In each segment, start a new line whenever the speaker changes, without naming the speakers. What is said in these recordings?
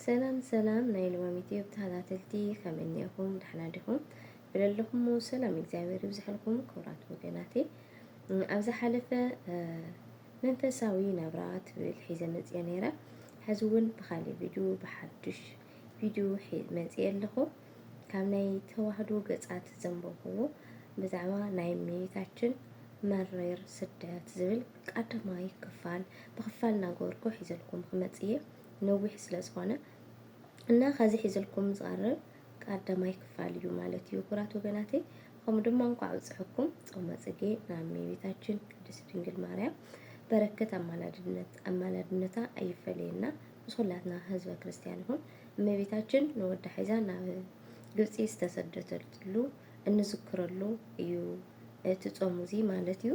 ሰላም ሰላም ናይ ልዋም ዩቲዩብ ተኸታተልቲ ከመይ እኒኤኹም ደሕና ዲኹም ብለለኹሞ ሰላም እግዚኣብሔር ይብዝሐልኩም ክቡራት ወገናተይ ኣብ ዝሓለፈ መንፈሳዊ ናብራ ትብል ሒዘ መፅየ ነይረ ሕዚ እውን ብካሊእ ቪድዮ ብሓዱሽ ቪድዮ መፅየ ኣለኹ ካብ ናይ ተዋህዶ ገፃት ዘንበብዎ ብዛዕባ ናይ እመቤታችን መሪር ስደት ዝብል ቀዳማይ ክፋል ብክፋል እናገበርኩ ሒዘልኩም ክመፅእ እየ ነዊሕ ስለ ዝኾነ እና ከዚ ሒዝልኩም ዝቐርብ ቀዳማይ ክፋል እዩ ማለት እዩ። ኩራት ወገናተይ ከምኡ ድማ እንኳዕ ብፅሐኩም ጾመ ጽጌ ናብ እመቤታችን ቅድስት ድንግል ማርያም በረከት አማላድነት አማላድነታ አይፈለየና ምስ ኩላትና ህዝበ ክርስቲያን ይኹን። እመቤታችን ንወዳ ሒዛ ናብ ግብፂ ዝተሰደተሉ እንዝክረሉ እዩ እቲ ጾም እዚ ማለት እዩ።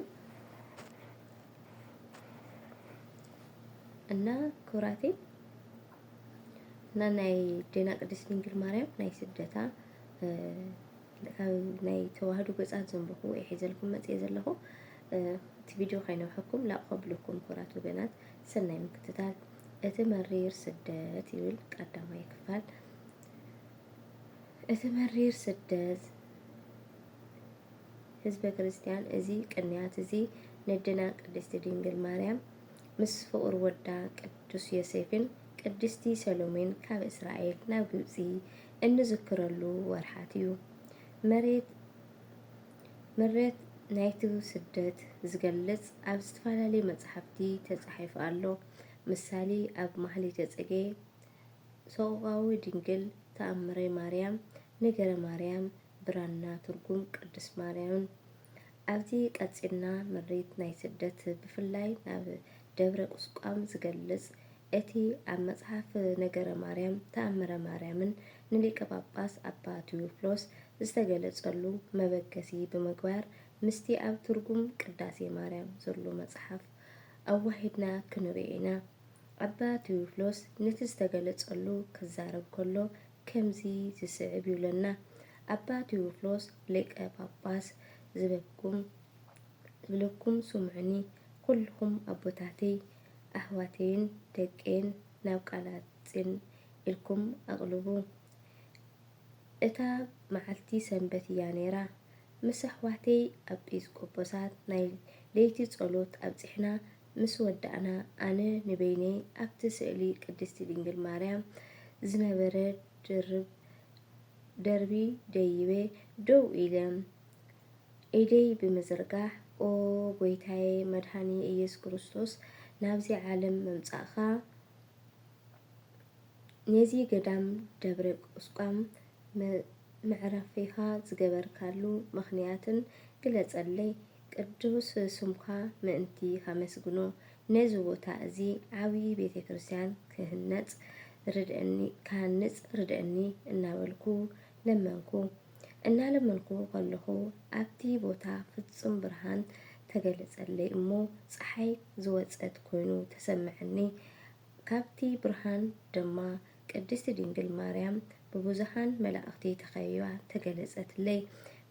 እና ኩራቴ እና ናይ ዴና ቅድስት ድንግል ማርያም ናይ ስደታ ናይ ተዋህዶ ገጻት ዘንብኹ ወይ ሒዘልኩም መጽየ ዘለኹ እቲ ቪድዮ ከይነውሐኩም ላብ ከብልኩም ኩራት ወገናት ሰናይ ምክትታል እቲ መሪር ስደት ይብል ቀዳማይ ክፋል እቲ መሪር ስደት ህዝበ ክርስቲያን እዚ ቅንያት እዚ ነዴና ቅድስቲ ድንግል ማርያም ምስ ፍቑር ወዳ ቅዱስ ዮሴፍን ቅድስቲ ሰሎሜን ካብ እስራኤል ናብ ግብጺ እንዝክረሉ ወርሓት እዩ። መሬት ምሬት ናይቲ ስደት ዝገልጽ ኣብ ዝተፈላለዩ መጻሕፍቲ ተጻሒፉ ኣሎ። ምሳሌ ኣብ ማህሌተ ጽጌ፣ ሰቆቃወ ድንግል፣ ተኣምረ ማርያም፣ ነገረ ማርያም፣ ብራና ትርጉም ቅድስት ማርያምን ኣብዚ ቀጺልና ምሪት ናይ ስደት ብፍላይ ናብ ደብረ ቁስቋም ዝገልጽ እቲ ኣብ መጽሓፍ ነገረ ማርያም ተኣምረ ማርያምን ንሊቀ ጳጳስ ኣባ ቴዎፍሎስ ዝተገለጸሉ መበገሲ ብምግባር ምስቲ ኣብ ትርጉም ቅዳሴ ማርያም ዘሎ መጽሓፍ ኣዋሂድና ክንርእዮ ኢና። ኣባ ቴዎፍሎስ ነቲ ዝተገለጸሉ ክዛረብ ከሎ ከምዚ ዝስዕብ ይብለና ኣባ ቴዎፍሎስ ሊቀ ጳጳስ ዝበኩም ዝብለኩም ስምዑኒ ኩልኹም ኣቦታተይ ኣሕዋተይን ደቀይን ናብ ቃላጺን ኢልኩም ኣቕልቡ እታ መዓልቲ ሰንበት እያ ነይራ ምስ ኣሕዋተይ ኣጲስቆጶሳት ናይ ለይቲ ጸሎት ኣብጺሕና ምስ ወዳእና ኣነ ንበይነይ ኣብቲ ስእሊ ቅድስቲ ድንግል ማርያም ዝነበረ ድርብ ደርቢ ደይበ ደው ኢለ ኢደይ ብምዝርጋሕ ኦ ጎይታየ መድኃኒየ ኢየሱስ ክርስቶስ ናብዚ ዓለም ምምጻእካ ነዚ ገዳም ደብረ ቁስቋም መዕረፊኻ ዝገበርካሉ ምኽንያትን ግለጸለይ ቅዱስ ስምካ ምእንቲ ኸመስግኖ ነዚ ቦታ እዚ ዓብዪ ቤተ ክርስቲያን ክህነጽ ርድእኒ ክሃንጽ ርድእኒ እናበልኩ ለመንኩ። እናለመንኩ ከለኹ ኣብቲ ቦታ ፍጹም ብርሃን ተገለጸለይ እሞ ጸሓይ ዝወጸት ኮይኑ ተሰምዐኒ። ካብቲ ብርሃን ድማ ቅድስቲ ድንግል ማርያም ብብዙኃን መላእኽቲ ተኸቢባ ተገለጸትለይ።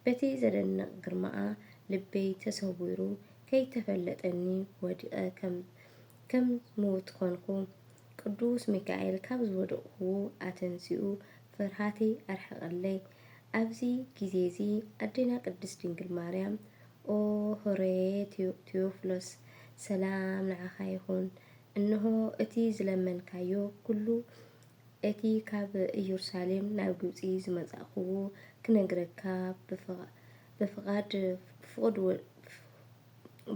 በቲ ዘደንቕ ግርማኣ ልበይ ተሰዊሩ ከይተፈለጠኒ ወዲቐ ከም ከም ምዉት ኮንኩ። ቅዱስ ሚካኤል ካብ ዝወደቕኩዎ ኣተንሲኡ ፍርሃተይ ኣርሐቐለይ። ኣብዚ ጊዜዚ ኣዴና ቅድስት ድንግል ማርያም ኦ ሆሬ ቴዎፍሎስ ሰላም ንዓኻ ይኹን እንሆ፣ እቲ ዝለመንካዮ ኵሉ፣ እቲ ኻብ ኢየሩሳሌም ናብ ግብጺ ዝመጻእክዎ፣ ክነግረካ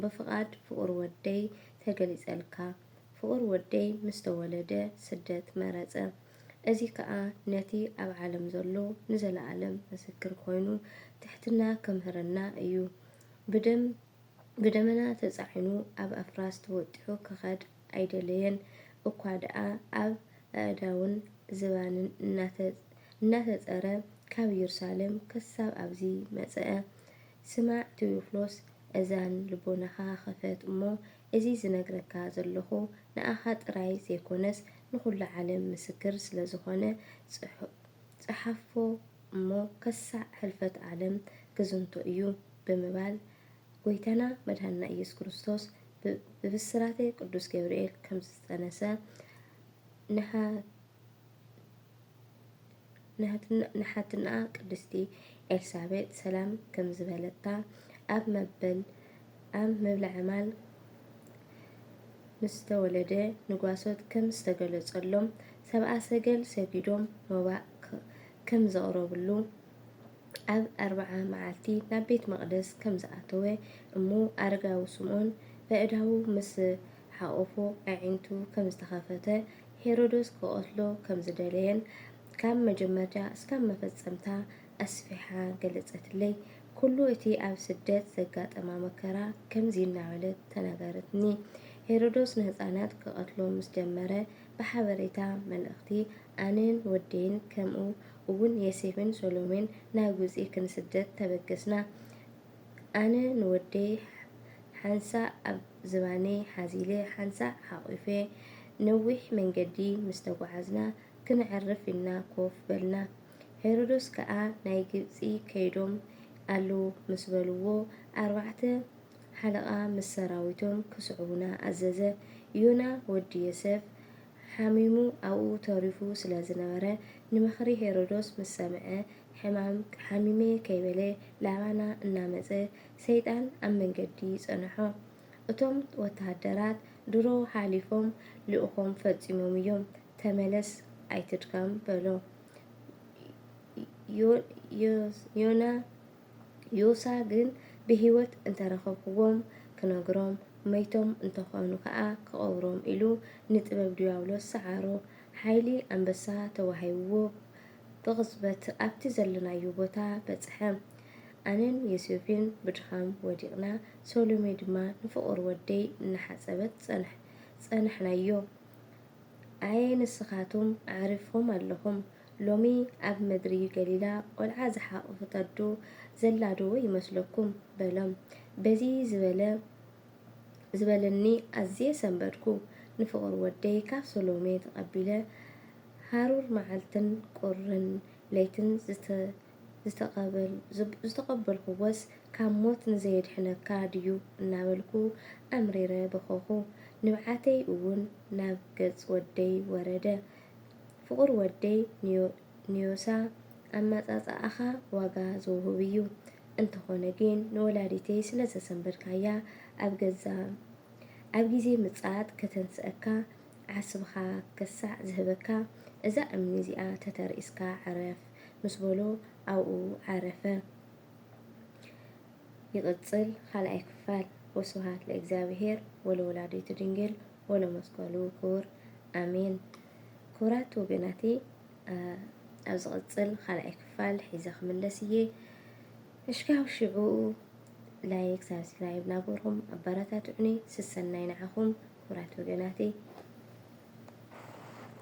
ብፍቓድ ፍቑር ወደይ ተገሊጸልካ። ፍቑር ወደይ ምስ ተወለደ፣ ስደት መረጸ። እዚ ኸኣ ነቲ ኣብ ዓለም ዘሎ ንዘለኣለም ምስክር ዀይኑ ትሕትና ኬምህረና እዩ። ብደም ብደመና ተጻዒኑ ኣብ ኣፍራስ ተወጢሑ ክኸድ ኣይደለየን እኳ ደኣ ኣብ ኣእዳውን ዝባንን እናተጸረ ካብ ኢየሩሳሌም ክሳብ ኣብዚ መጸኣ። ስማዕ ቴዎፍሎስ እዛን ልቦናኻ ኽፈት እሞ እዚ ዝነግረካ ዘሎኹ ንኣኻ ጥራይ ዘይኮነስ ንኹሉ ዓለም ምስክር ስለ ዝኾነ ጽሓፎ እሞ ከሳዕ ሕልፈት ዓለም ክዝንቶ እዩ። ብምባል ጎይታና መድኃኒና ኢየሱስ ክርስቶስ ብብሥራተ ቅዱስ ገብርኤል ከምዝተጸነሰ ንኃትንኣ ቅድስቲ ኤልሳቤጥ ሰላም ከምዝበለታ ኣብ መበል ኣብ ምብላዐ ማል ምስተወለደ ንጓሶት ከም ዝተገለጸሎም ሰብኣ ሰገል ሰጊዶም መባእ ከምዘቕረብሉ ኣብ ኣርብዓ መዓልቲ ናብ ቤት መቕደስ ከም ዝኣተወ እሞ ኣረጋዊ ስምዖን በእዳዉ ምስ ሓቖፎ ኣዒንቱ ከም ዝተኸፈተ ሄሮዶስ ክቐትሎ ከም ዝደለየን ካብ መጀመርታ እስካብ መፈጸምታ ኣስፊሓ ገለጸትለይ ኩሉ እቲ ኣብ ስደት ዘጋጠማ መከራ ከምዚ እናበለት ተናገረትኒ ሄሮዶስ ንህጻናት ክቐትሎም ምስ ጀመረ ብሓበሬታ መልእኽቲ ኣነን ወደይን ከምኡ እውን የሴፍን ሰሎሜን ናብ ግብጺ ክንስደድ ተበገስና። ኣነ ንወደይ ሓንሳእ ኣብ ዝባነይ ሓዚለ ሓንሳእ ሓቝፈ ነዊሕ መንገዲ ምስ ተጓዓዝና ክነዕርፍ ኢልና ኮፍ በልና። ሄሮዶስ ከኣ ናይ ግብጺ ከይዶም ኣለዉ ምስ በልዎ ኣርባዕተ ሓለቓ ምስ ሰራዊቶም ክስዕቡና ኣዘዘ። ዮና ወዲ ዮሴፍ ሓሚሙ ኣብኡ ተሪፉ ስለ ዝነበረ፣ ንምኽሪ ሄሮዶስ ምስ ሰምዐ፣ ሕማም ሓሚመ'የ ከይበለ ላባና እናመጸ ሰይጣን ኣብ መንገዲ ጸንሖ። እቶም ወተሃደራት ድሮ ሓሊፎም ልእኾም ፈጺሞም'ዮም፣ ተመለስ ኣይትድከም በሎ። ዮና። ዮሳ ግን ብህይወት እንተ ረኸብኩዎም ክነግሮም፣ መይቶም እንተ ዀኑ ኸኣ ክቐብሮም ኢሉ ንጥበብ ድያብሎስ ሰዓሮ። ሓይሊ ኣንበሳ ተዋሂብዎ ብቕጽበት ኣብቲ ዘሎናዮ ቦታ በጽሐ። ኣነን ዮሴፍን ብድኻም ወዲቕና፣ ሰሎሜ ድማ ንፍቑር ወደይ እናሓጸበት ጸንሐናዮ። ኣየ ንስኻትኩም ኣዕሪፍኩም ኣለኹም! ሎሚ ኣብ ምድሪ ገሊላ ቈልዓ ዝሓቖፈት ኣዶ ዘላዶ ይመስለኩም? በሎም። በዚ ዝበለ ዝበለኒ ኣዝየ ሰንበድኩ። ንፍቑር ወደይ ካብ ሰሎሜ ተቐቢለ ሃሩር መዓልትን ቍርን ለይትን ዝተቐበልኩዎስ ካብ ሞት ንዘየድሕነካ ድዩ? እናበልኩ ኣምሪረ በኸኹ። ንብዓተይ እውን ናብ ገጽ ወደይ ወረደ። ፍቁር ወደይ ንዮሳ ኣማጻጽኣኻ ዋጋ ዘውህብ እዩ እንተኾነ ግን ንወላዲተይ ስለ ዘሰንበድካያ ኣብ ገዛ ኣብ ግዜ ምጽኣት ከተንስኣካ ዓስብኻ ከሳዕ ዝህበካ እዛ እምኒ እዚኣ ተተርኢስካ ዕረፍ ምስ በሎ ኣብኡ ዓረፈ። ይቅጽል ካልኣይ ክፋል። ወስብሃት ለእግዚኣብሄር ወለወላዲቱ ድንግል። ወለመስቀሉ ክቡር ኣሜን። ክቡራት ወገናተይ ኣብ ዝቕጽል ካልኣይ ክፋል ሒዘ ክምለስ እየ። እሽካብ ሽዑ ላይክ ሳብስክራይብ ናበርኩም ኣበረታትዑኒ። ስሰናይ ንዓኹም ክቡራት ወገናተይ።